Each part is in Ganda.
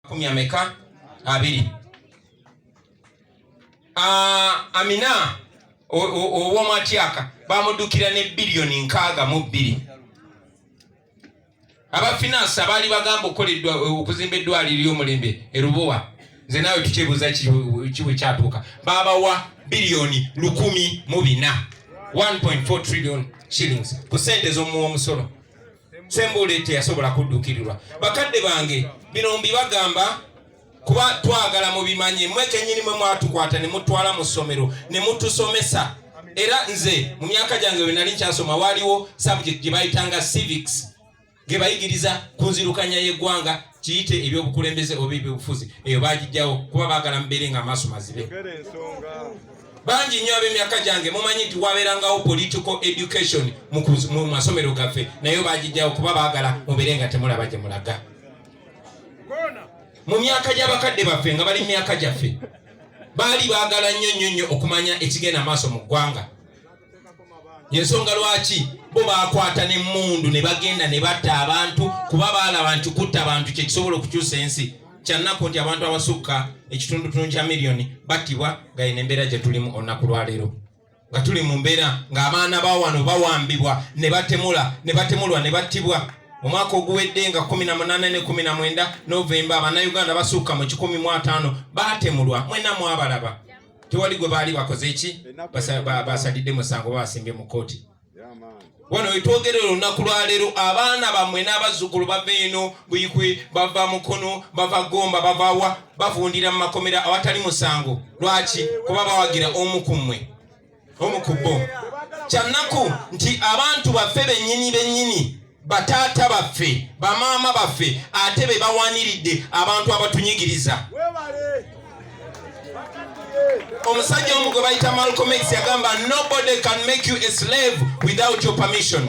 kumi ameka abiri ah, amina ow'omwatyaka bamuddukira ne biliyoni nkaaga mu bbiri abafinansi abaali bagamba okukoledwa okuzimba eddwaliro ly'omulembe erubowa nze naawe tukyebuuza kibwe kyatuuka babawa biliyoni lukumi mu bina 1.4 trillion shillings ku sente z'omuwa omusolo sembule teyasobola kuddukirirwa bakadde bange bino mbibagamba kuba twagala mubimanye mwe kenyini mwe mwatukwata ne mutwala mu ssomero ne mutusomesa era nze mu myaka gyange wenali nkyasoma waaliwo subject gye bayitanga civics ge bayigiriza ku nzirukanya y'eggwanga kiyite ebyobukulembeze oba ebyobufuzi eyo bagijjawo kuba baagala mubeere nga amaaso mazibe bangi nnyo ab'emyaka gyange mumanyi nti wabeerangawo political education mu masomero gaffe naye bagijjawo kuba baagala mubeere nga temulaba gye mulaga mu myaka gy'abakadde baffe nga bali mu myaka gyaffe baali baagala nnyo nnyo nnyo okumanya ekigenda maaso mu ggwanga yensonga lwaki bo bakwata nemundu nebagenda nebatta abantu kuba balaba nti kutta abantu kyekisobola okukyusa ensi kyannaku nti abantu abasukka ekitundutundu kya miliyoni battibwa nga yina embeera gyetulimu olunaku lwaleero nga tuli mu mbeera ng'abaana ba wano bawambibwa ne batemula ne batemulwa ne battibwa omwaka oguwedde nga 18 ne 19 novemba abanauganda basuuka mu 15 baatemulwa mwena mwabalaba tewali gwe baali bakoze eki basalidde musango babasimbye mu kooti wano wetwogerera olunaku lwaleero abaana bammwe n'abazzukulu bava eno buyikwe bava mukono bava gomba bavawa bavundira mu makomera awatali musango lwaki kuba bawagira omu ku mmwe omu ku bo kyannaku nti abantu baffe bennyini bennyini bataata baffe bamaama baffe ate be bawaniridde abantu abatunyigiriza omusajja omu gwe bayita malcolm x yagamba nobody can make you a slave without your permission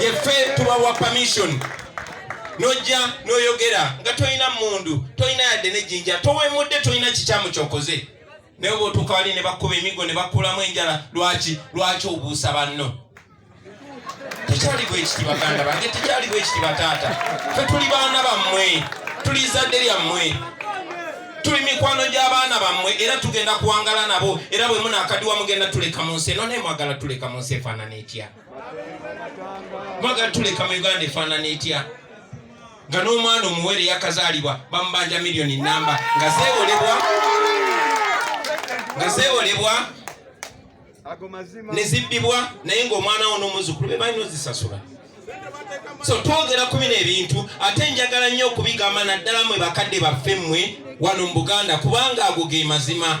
yeffe tubawa permission nojja noyogera nga tolina mundu tolina yadde nejinja towemudde tolina kikyamu kyokoze naye oba otuuka wali ne bakkuba emigo ne bakkulamu enjala lwaki lwaki obuusa banno tekyali bwekiti baganda bange tekyali bwekiti bataata fe tuli baana bammwe tuli zadde lyammwe tuli mikwano gy'abaana bammwe era tugenda kuwangala nabo era bwe munaakadiwa mugenda tuleka mu nsi eno naye mwagala tuleka mu nsi efaanana etya mwagala tuleka mu uganda efaanana etya nga n'omwana omuwere yakazaalibwa bamubanja miliyoni namba nga zewolebwa nga zewolebwa nezibbibwa naye ngaomwana wo n'omuzukulu be balina ozisasula so twogera ku bino ebintu ate njagala nnyo okubigamba naddala mwe bakadde baffe mmwe wano mu buganda kubanga ago ge mazima